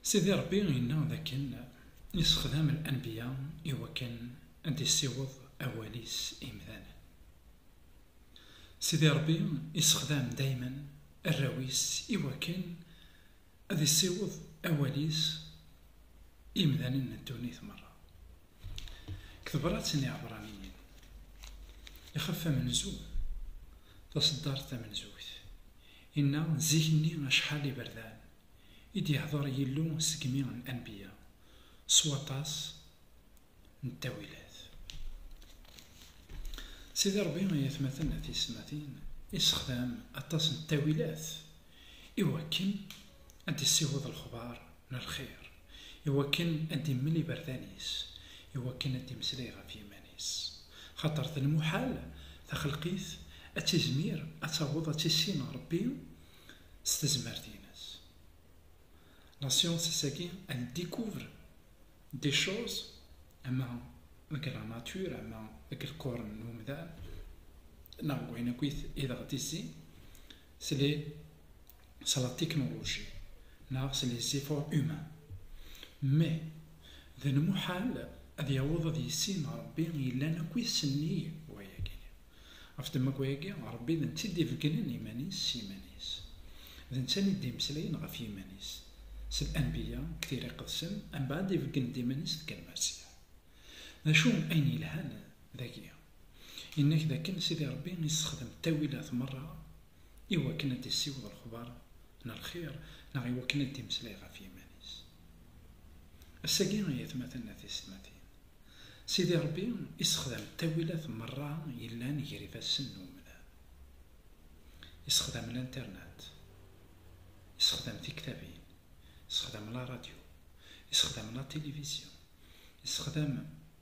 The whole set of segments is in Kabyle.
Sidi Ṛebbi inna dakken yessexdam anbiya i wakken ad d-issiweḍ awal-is i yemdanen. Sidi Ṛebbi yessexdam daymen arraw-is i wakken ad issiweḍ awal-is i yemdanen n ddunit meṛṛa. Deg tebṛat n Iɛebṛaniyen, ixef amenzu, taṣeddart tamenzut, Inna, D zik-nni acḥal iberdan i d-yehder Yillu segmi n anbiya, s waṭas n ttawilat. Sidi Ṛebbi, ay atmaten a tiyesmatin, yessexdam aṭas n ttawilat i wakken ad d-issiweḍ lexbar n lxir. i wakken ad d-immel iberdan-is, i wakken ad d-imeslay ɣef yiman-is. Xaṭer d lmuḥal taxelqit ad tizmir ad taweḍ ad tissin Ṛebbi s tezmert-ines. La science ass-agi elle découvre des choses ama deg la nature ama deg lqurn n umdan neɣ deg wayen akk i d ɣ-d-izzin s les s la technologie neɣ s les efforts humains mais d lmuḥal ad yaweḍ ad yissin Rebbi yellan akk i tsenni wayagi ɣef ddemma n wayagi Rebbi d netta i d-ibeggnen iman-is s yiman-is d netta i d-imeslayen ɣef yiman-is s l'anbiya deg tira iqedsen mbeɛd ibeggen-d iman-is deg lmersiya d acu ayen yelhan dagi Yenna-k d akken Sidi Ṛebbi yessexdem ttawilat meṛṛa i wakken ad d-issiweḍ lexbaṛ n lxiṛ neɣ i wakken ad d-imeslay ɣef yiman-is. Ass-agi, ay atmaten d tiysetmatin, Sidi Ṛebbi yessexdam ttawilat meṛṛa yellan ger ifassen n umdan. Yessexdam Linternet, yessexdam tiktabin, yessexdam laṛadyu, yessexdam latilivizyu, yessexdam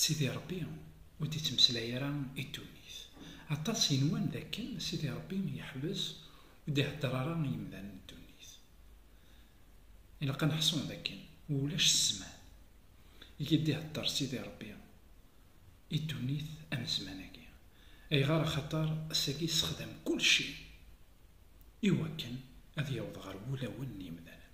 Sidi Ṛebbi ur d-ittmeslay ara i ddunit. Aṭas yenwan d akken Sidi Ṛebbi yeḥbes ur d-iheddeṛ ara i yemdanen n ddunit. Ilaq ad neḥṣu d akken ulac zzman i d-iheddeṛ Sidi Ṛebbi i ddunit am zzman-agi. Ayɣer? Axaṭer ass-agi yessexdam kulci i wakken ad yaweḍ ɣer wulawen n yemdanen.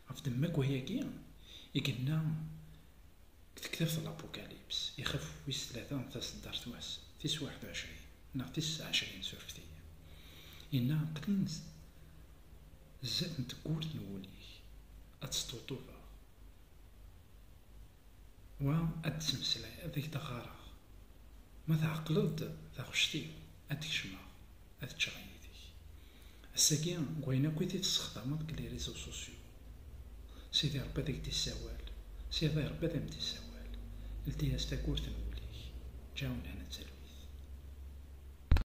Ɣef ddemma n wayagi i yenna. Tektabt n Lapukalips, ixef wis tlata n taseddart wass tis waḥed u ɛecrin neɣ tis seɛa ɛecrin surfet-iyi, yenna aql-i zdat n tewwurt n wul-ik, ad tt-sṭuṭufeɣ, wa ad d-ttmeslayeɣ, ad ak-d-ɣɣareɣ, ma tɛeqleḍ-d taɣect-iw. ad d-kecmeɣ, ad ččeɣ yid-k. Ass-agi, deg wayen akk i t-id-tessexdameḍ deg les réseaux sociaux. Sidi Ṛebbi ad ak-d-isawal, Sidi Ṛebbi ad am-d-isawal. Ldi-as tagurt n wul-ik, ǧǧa nnehna d talwit.